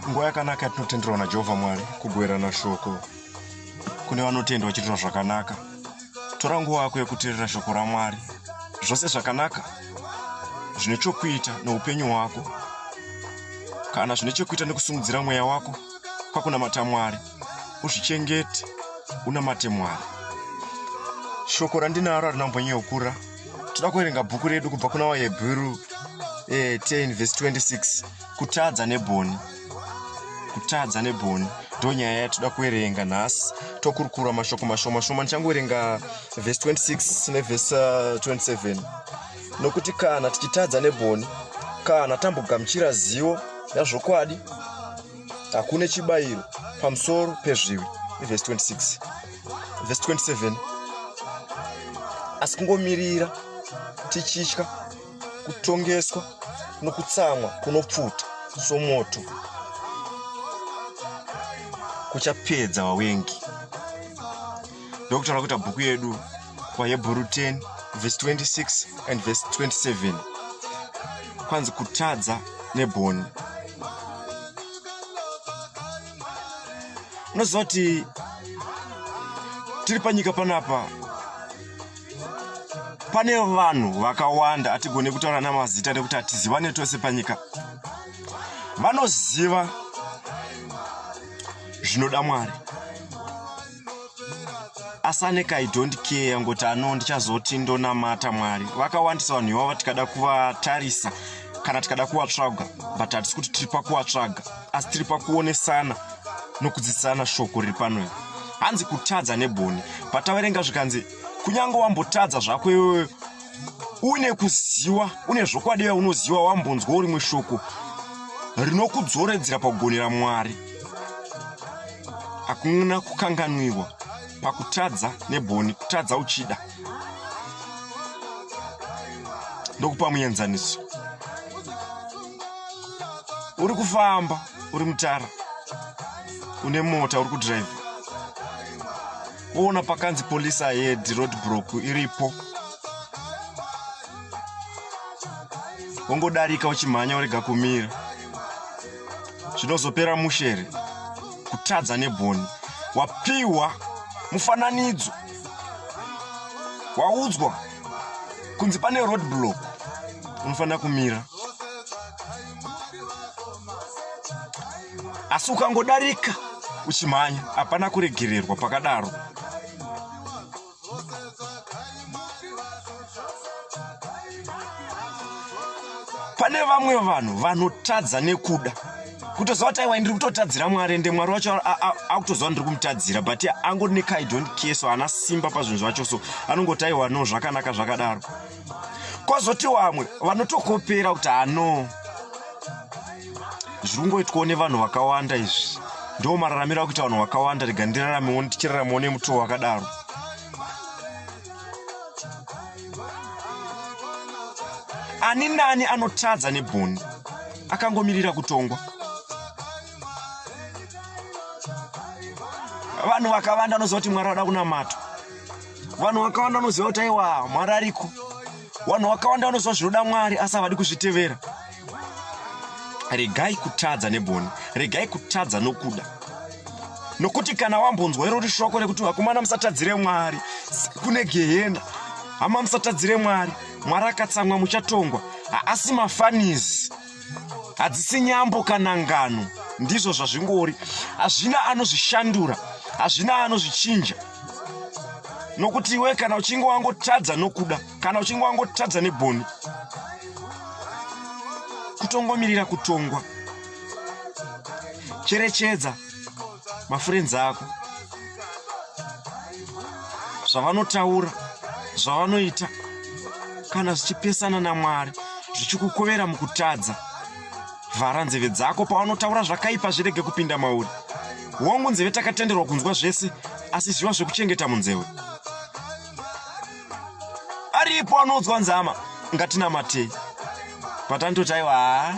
nguva yakanaka yatinotenderwa najehovha mwari kugoverana shoko kune vanotenda vachiitira zvakanaka tora nguva yako yekuteerera shoko ramwari zvose zvakanaka zvine chokuita neupenyu hwako kana zvine chokuita nekusimudzira mweya wako kwakunamata mwari uzvichengete unamate mwari shoko randinaro harina kumbonyeukura toda kuverenga bhuku redu kubva kuna wahebhuru eh, 10 vhesi 26 kutadza neboni kutadza neboni ndo nyaya yatoda kuverenga nhasi tokurukura mashoko mashoma shoma ndichangoverenga vhesi 26 nevhesi 27 uh, nokuti kana tichitadza neboni kana tambogamuchira zivo yazvokwadi hakune chibayiro pamusoro pezvivi ivhesi 26 vhesi 27 asi kungomirira tichitya kutongeswa nokutsamwa kunopfuta somoto kuchapedza vawengi ndokuti tava kuita bhuku yedu vahebhuru 10 vhesi 26 and vhesi 27 kwanzi kutadza nebhoni unoziva kuti tiri panyika panapa pane vanhu vakawanda hatigone kutaura namazita nekuti hatizivane tose panyika vanoziva zvinoda mwari asanekai don't care ngoti ano ndichazoti ndonamata mwari vakawandisa vanhu ivavo tikada kuvatarisa kana tikada kuvatsvaga but hatisi kuti tiri pakuvatsvaga asi tiri pakuonesana nokudzidzisana shoko riri pano iri hanzi kutadza neboni pataverenga zvikanzi kunyange wambotadza zvako iwewe une kuziwa une zvokwadi yaunoziwa wambonzwa urimwe shoko rinokudzoredzera pakugonera mwari hakuna kukanganwirwa pakutadza neboni kutadza uchida ndokupa muenzaniso uri kufamba uri mutara une mota uri kudrive woona pakanzi polisi ahead roadbrock iripo wongodarika uchimhanya urega kumira zvinozopera mushere kutadza neboni wapiwa mufananidzo waudzwa kunzi pane road block unofanira kumira asi ukangodarika uchimhanya hapana kuregererwa pakadaro pane vamwe vanhu vanotadza nekuda kutoziva kuti aiwa ndiri kutotadzira mwari ende mwari wacho akutoziva ndiri kumutadzira but angoti nekai don't care so haana simba pazvinhu zvacho so anongoti aiwa no zvakanaka zvakadaro kwazoti vamwe vanotokopera kuti ano zviri kungoitwawo nevanhu vakawanda izvi ndo mararamiro akuita vanhu vakawanda rega ndiraramewo ndichiraramawo nemutowo wakadaro ani nani anotadza nebhoni akangomirira kutongwa vanhu vakavanda anoziva kuti mwari vada kunamatwa vanhu vakawanda vanoziva kuti aiwa mwari ariko vanhu vakawanda vanoziva zvinoda mwari asi havadi kuzvitevera regai kutadza neboni regai kutadza nokuda nokuti kana wambonzwa irori shoko rekuti vakomana musatadzire mwari kune gehena hama musatadzire mwari mwari akatsamwa muchatongwa haasi mafanizi hadzisi nyambo kana ngano ndizvo zvazvingori hazvina anozvishandura hazvina anozvichinja nokuti iwe kana uchinge wangotadza nokuda kana uchinge wangotadza neboni kutongomirira kutongwa cherechedza mafurenzi ako zvavanotaura zvavanoita kana zvichipesana namwari zvichikukovera mukutadza vhara nzeve dzako pawanotaura zvakaipa zvirege kupinda mauri hongu nzeve takatenderwa kunzwa zvese asi zviva zvekuchengeta munzewe aripo anonzwa nzama ngatinamatei patandotaiwa haa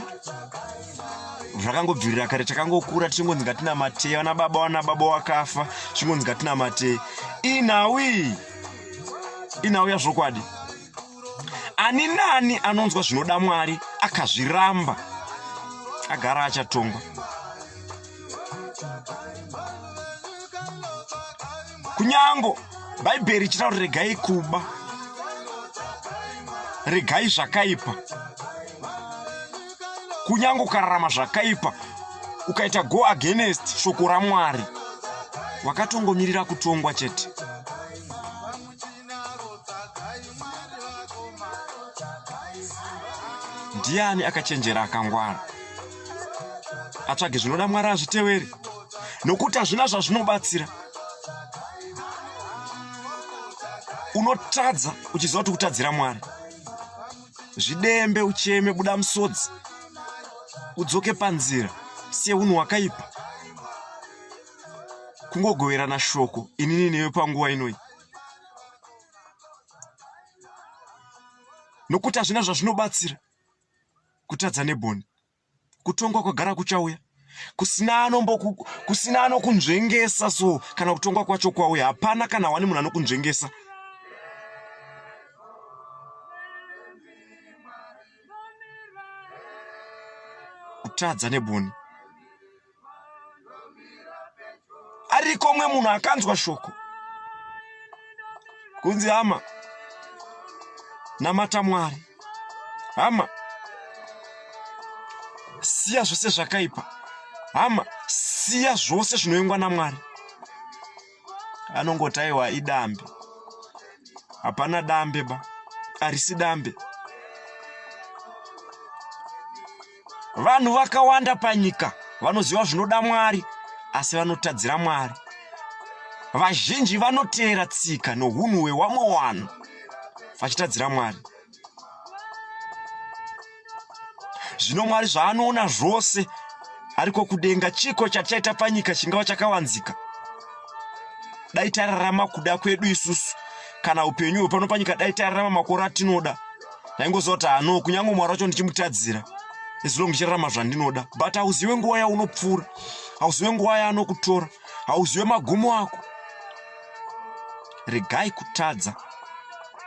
zvakangobvirira kare takangokura tichingonzi ngatinamatei vana baba wana baba wakafa tichingonzi ngatinamatei inhawi inhawi yazvokwadi ani nani anonzwa zvinoda mwari akazviramba agara achatongwa kunyango bhaibheri ichitaura kuti regai kuba regai zvakaipa kunyange ukararama zvakaipa ukaita go against shoko ramwari wakatongomirira kutongwa chete ndiani akachenjera akangwara atsvage zvinoda mwari azvitevere nokuti hazvina zvazvinobatsira unotadza uchiziva kuti kutadzira mwari zvidembe ucheme buda musodzi udzoke panzira siye unhu wakaipa kungogoverana shoko inini newe panguva inoi nokuti hazvina zvazvinobatsira kutadza neboni kutongwa kwagara kuchauya kusina anombo kusina anokunzvengesa so kana kutongwa kwacho kwauya hapana kana wani munhu anokunzvengesa kutadza neboni ariko umwe munhu akanzwa shoko kunzi hama namata mwari hama siya zvose zvakaipa hama siya zvose zvinoyengwa namwari anongotaiwa idambe hapana dambe ba arisi dambe vanhu vakawanda panyika vanoziva zvinoda mwari asi vanotadzira mwari vazhinji vanoteera tsika nohunhu hwewamwe wanhu vachitadzira mwari zvino mwari zvaanoona zvose ariko kudenga chiko chatichaita panyika chingava chakawanzika dai tararama kuda kwedu isusu kana upenyu hwepano panyika dai tararama makore atinoda ndaingoziva kuti hano kunyange mwari wacho ndichimutadzira as long ndichirarama zvandinoda but hauzive nguva yaunopfuura hauzive nguva yaanokutora hauzive magumo ako regai kutadza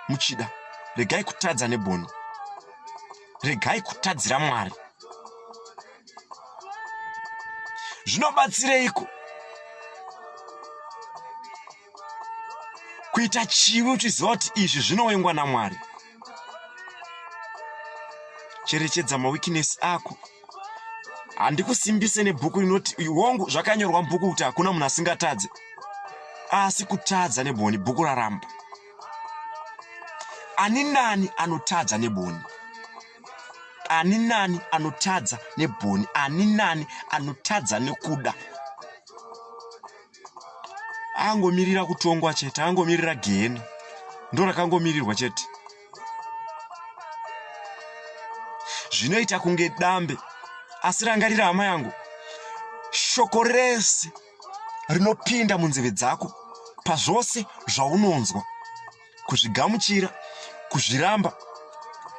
muchida regai kutadza neboni regai kutadzira mwari zvinobatsireiko kuita chivi uchiziva kuti izvi zvinowengwa namwari cherechedza mawikinesi ako handikusimbise nebhuku rinoti hongu zvakanyorwa mubhuku kuti hakuna munhu asingatadze asi kutadza neboni bhuku raramba ani nani anotadza neboni ani nani anotadza neboni ani nani anotadza nekuda angomirira kutongwa chete angomirira gehena ndo rakangomirirwa chete zvinoita kunge dambe asi rangarira hama yangu shoko rese rinopinda munzeve dzako pazvose zvaunonzwa kuzvigamuchira kuzviramba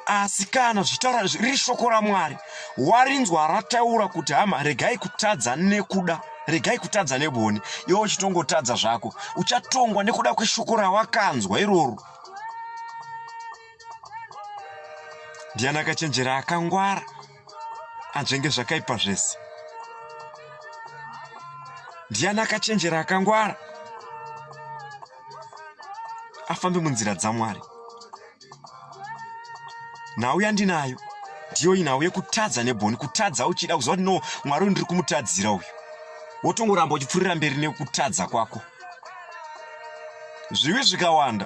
asi kana zvitaura riri shoko ramwari warinzwa rataura kuti hama regai kutadza nekuda regai kutadza neboni iwe uchitongotadza zvako uchatongwa nekuda kweshoko rawakanzwa iroro ndiani akachenjera akangwara anzvenge zvakaipa zvese ndiani akachenjera akangwara afambe munzira dzamwari nhau yandinayo ndiyo inhau yekutadza neboni kutadza uchida kuziva kuti no mwari uyu ndiri kumutadzira uyu wotongoramba uchipfurira mberi nekutadza kwako zvivi zvikawanda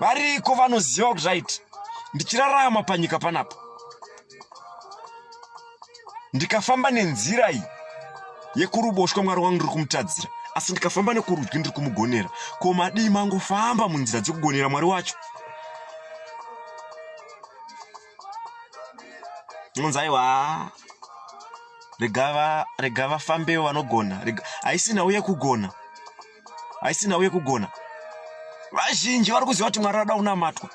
variko vanoziva kuti right ndichirarama panyika panapa ndikafamba nenzira iyi yekuruboshwa mwari wangu ndiri kumutadzira asi ndikafamba nekurudyi ndiri kumugonera ko madii mangofamba munzira dzekugonera mwari wacho unonzi aiwa rega vafambewo vanogona haisina uye kugona haisina uye kugona vazhinji vari kuziva kuti mwari vada kunamatwa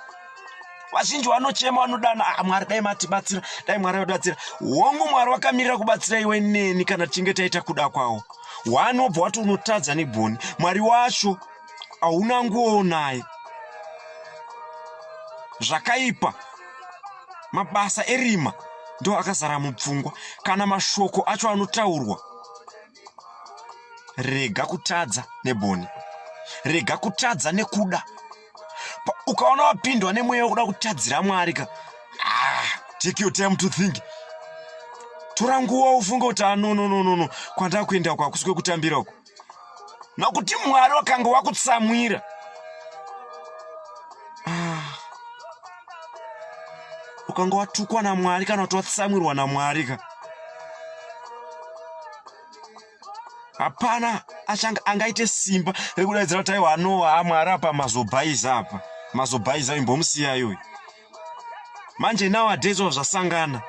vazhinji vanochema vanodana ah, mwari dai matibatsira dai mwari vatibatsira hongu mwari wakamirira kubatsira iwe neni kana tichinge taita kuda kwawo wanobva wati unotadza negoni mwari wacho hauna nguowo naye zvakaipa mabasa erima ndo akazara mupfungwa kana mashoko acho anotaurwa rega kutadza neboni rega kutadza nekuda ukaona wapindwa nemweya wekuda kutadzira mwari ka ah, take your time to think tora nguva ufunge kuti anonononono ah, kwandakuenda uko hakusi kwekutambira uko nokuti mwari wakanga wakutsamwira ah. ukanga watukwa namwari kana kuti watsamwirwa namwari ka hapana achanga angaite simba rekudaidzira kuti aiwa anowa amwari apa mazobhaiza apa mazobhaiza imbomusiyayoyi manje nowadays of zvasangana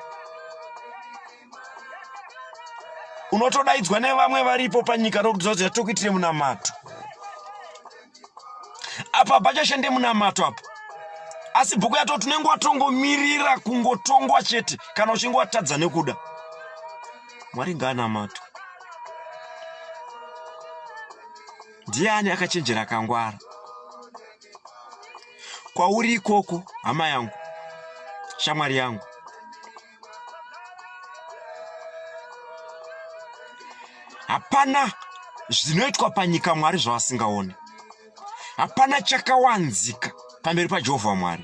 unotodaidzwa nevamwe varipo panyika nokuti zvazoya tokuitire munamato apa pachashande munamato apa asi bhuku yato tinenge watongomirira kungotongwa chete kana uchinge watadza nekuda mwari ngaanamato ndiani akachenjera kangwara kwauri ikoko hama yangu shamwari yangu hapana zvinoitwa panyika mwari zvavasingaone hapana chakawanzika pamberi pajehovha mwari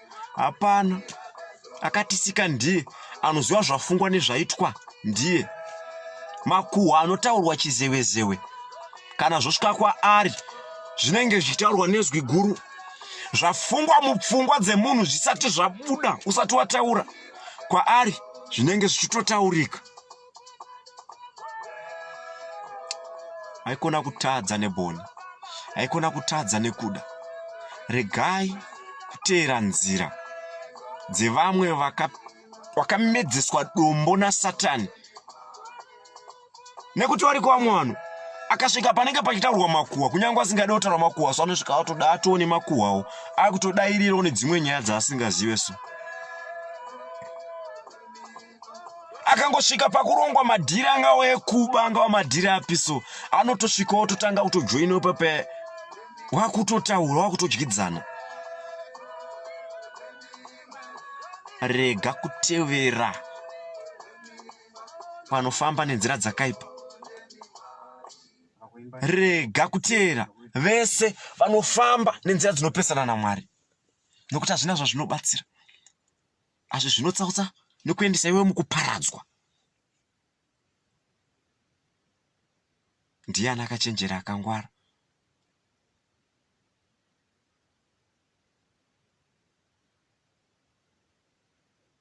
hapana akatisika ndiye anoziva zvafungwa nezvaitwa ndiye makuhwa anotaurwa chizewezewe kana zvosvika kwaari zvinenge zvichitaurwa nezwi guru zvafungwa mupfungwa dzemunhu zvisati zvabuda usati wataura kwaari zvinenge zvichitotaurika haikona kutadza neboni haikona kutadza nekuda regai kuteera nzira dzevamwe vakamedzeswa dombo nasatani nekuti variko vamwe vanhu akasvika panenge pachitaurwa makuhwa kunyange asingade kutaura makuhwa so anosvika atoda atoone makuhwawo akutodairirawo nedzimwe nyaya dzaasingazive so akangosvika pakurongwa madhiri angawa ekuba angawa madhiri api so anotosvika ototanga kutojoina pape wakutotaura wakutodyidzana rega kutevera vanofamba nenzira dzakaipa rega kuteera vese vanofamba nenzira dzinopesana namwari nokuti hazvina zvazvinobatsira asi zvinotsautsa nekuendesa iwe mukuparadzwa ndiani akachenjera akangwara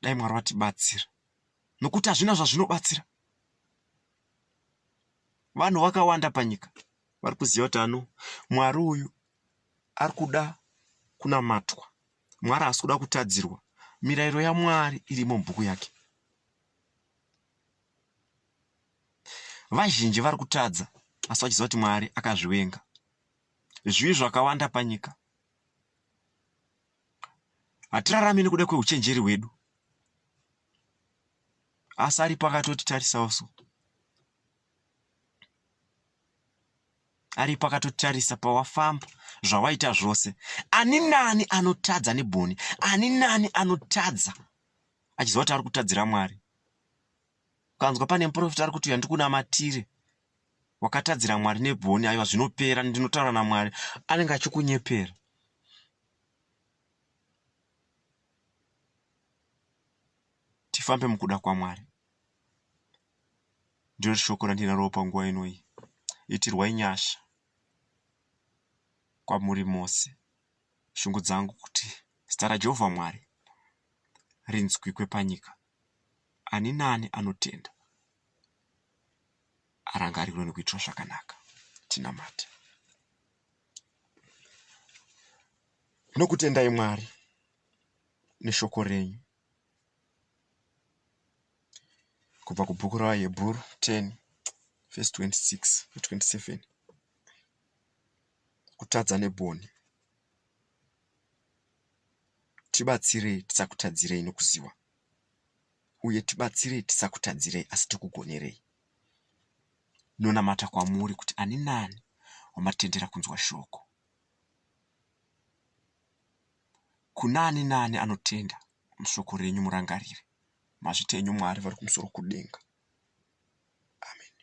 dai mwari vatibatsira nokuti hazvina zvazvinobatsira vanhu vakawanda panyika vari kuziva kuti ano mwari uyu ari kuda kunamatwa Mwari haasi kuda kutadzirwa. Mirayiro yaMwari irimo mubhuku yake. Vazhinji vari kutadza asi vachiziva kuti Mwari akazvivenga. Zvivi zvakawanda panyika. Hatirarami nekuda kweuchenjeri hwedu. Asi aripo akatotitarisawo so. aripo akatotarisa pawafamba zvawaita zvose ani nani anotadza neboni ani nani anotadza achiziva kuti ari kutadzira mwari ukanzwa pane muprofita ari kuti uya ndikunamatire wakatadzira mwari neboni aiwa zvinopera ndinotaura namwari anenge achikunyepera tifambe mukuda kwamwari Ndiro shoko randinaro panguva ino iyi. Itirwai nyasha kwamuri mose. Shungu dzangu kuti zita raJehovha Mwari rinzwikwe panyika. Ani naani anotenda arangarirwe nekuitirwa zvakanaka. Tinamate. Tinokutendai Mwari neshoko renyu. Kubva kubhuku raVaHebhuru 10 vhesi 26 ne 27. Kutadza nebwoni. Tibatsirei tisakutadzirei nokuziwa, uye tibatsirei tisakutadzirei asi tikugonerei. Ndinonamata kwamuri kuti ani naani wamatendera kunzwa shoko. Kuna ani naani anotenda mushoko renyu murangarire mazvita enyu Mwari vari kumusoro kudenga. Ameni.